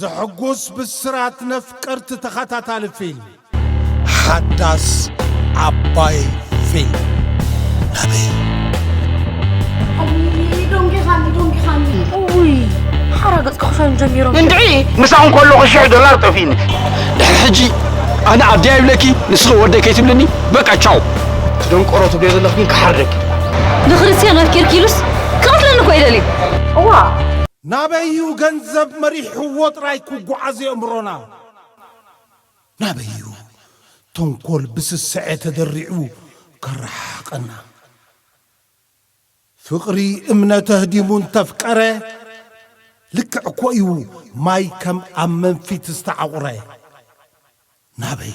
ዘሕጉስ ብስራት ነፍቀርቲ ተኸታታሊ ፊልም ሓዳስ ዓባይ ፊልም ናበይ እንድዒ ምሳኹ ከለኹ ሽሕ ዶላር ጠፊኒ ድሕሪ ሕጂ ኣነ ኣደይ ኣይብለኪ ንስኺ ወደይ ከይትብልኒ በቃ ቻው ደንቆሮ ትብልዮ ዘለኽ ግን ክሓርደኪ ንክርስትያን ኣፍቂርኪ ኢሉስ ክቐትለኒ እኮ እዩ ደልዩ እዋ ናበይ እዩ ገንዘብ መሪሕዎ ጥራይ ክጓዓዝ የእምሮና ናበይ እዩ ተንኮል ብስስዐ ተደሪዑ ከረሓሕቀና ፍቕሪ እምነት ኣህዲሙ እንተፍቀረ ልክዕ እኮ እዩ ማይ ከም ኣብ መንፊት ዝተዓቑረ ናበይ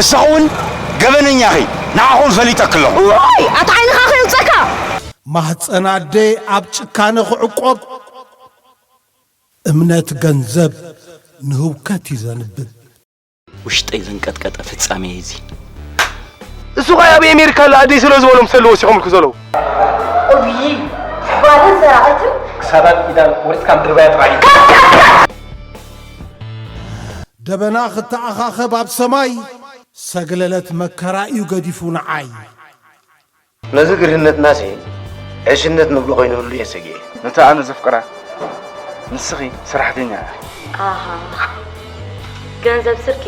እሳኹ ውን ገበነኛ ኢኺ ንዓኹም ፈሊጠኪ ኣለኹ። እዋይ ኣታ ዓይንኻ ክእንጸካ። ማህጸን ኣደ ኣብ ጭካነ ክዕቆብ። እምነት ገንዘብ ንህውከት እዩ ዘንብብ። ውሽጠይ ዘንቀጥቀጠ ፍጻሜ እዩ እዚ። እሱ ኸኣ ኣብ ኤሜሪካ ኣሎ ኣደይ ስለ ዝበሎም ሰለ ወሲኾምልኪ ዘለዉ። እውይይ ጓልን ሰራቂትን። ክሳዳን ኢዳን ቆሪጽካ ምድርባያ ጥራይ እዩ። ደበና ክተኣኻኸብ ኣብ ሰማይ ሰግለለት መከራ'ዩ ገዲፉ ንዓይ። ነዚ ግርህነትና'ሲ ዕሽነት ንብሎ ኮይኑህሉ እየ ሰጊኤ። ነታ ኣነ ዘፍቅራ ንስኺ ሰራሕተኛ ኢኺ። ኣሃ ገንዘብ ስርቂ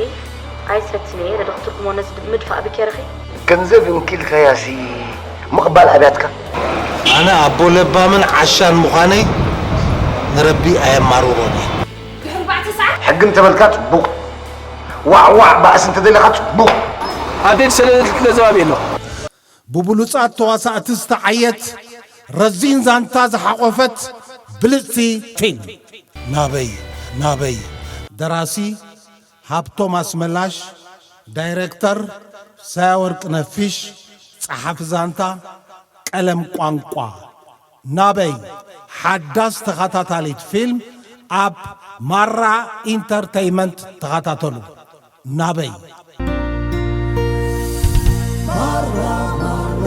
ኣይሰትን'የ ኢለ ዶ ክትርጉሞ ነዚ ምድፋእ ብኬርኺ። ገንዘብ እንኪ ኢልካያ'ሲ ምቕባል ኣብያትካ። ኣነ ኣቦ ለባምን ዓሻን ምዃነይ ንረቢ ኣየማርሮን'የ። ሕጊ እንተበልካ ፅቡቕ፣ ዋዕ ዋዕ ባእሲ እንተደሊኻ ፅቡቕ። ኣዴት ሰለለቲ ትገዘባብ የሎ። ብብሉጻት ተዋሳእቲ ዝተዓየት ረዚን ዛንታ ዝሓቖፈት ብልጽቲ ፊልም። ናበይ ናበይ ደራሲ ሃብቶም ኣስመላሽ ዳይረክተር ሳያወርቅነህ ፊሽ ጸሓፊ ዛንታ ቀለም ቋንቋ ናበይ ሓዳስ ተኻታታሊት ፊልም ኣብ ማራ ኢንተርተይመንት ተኻታተሉ ናበይ። ማራ ማራ።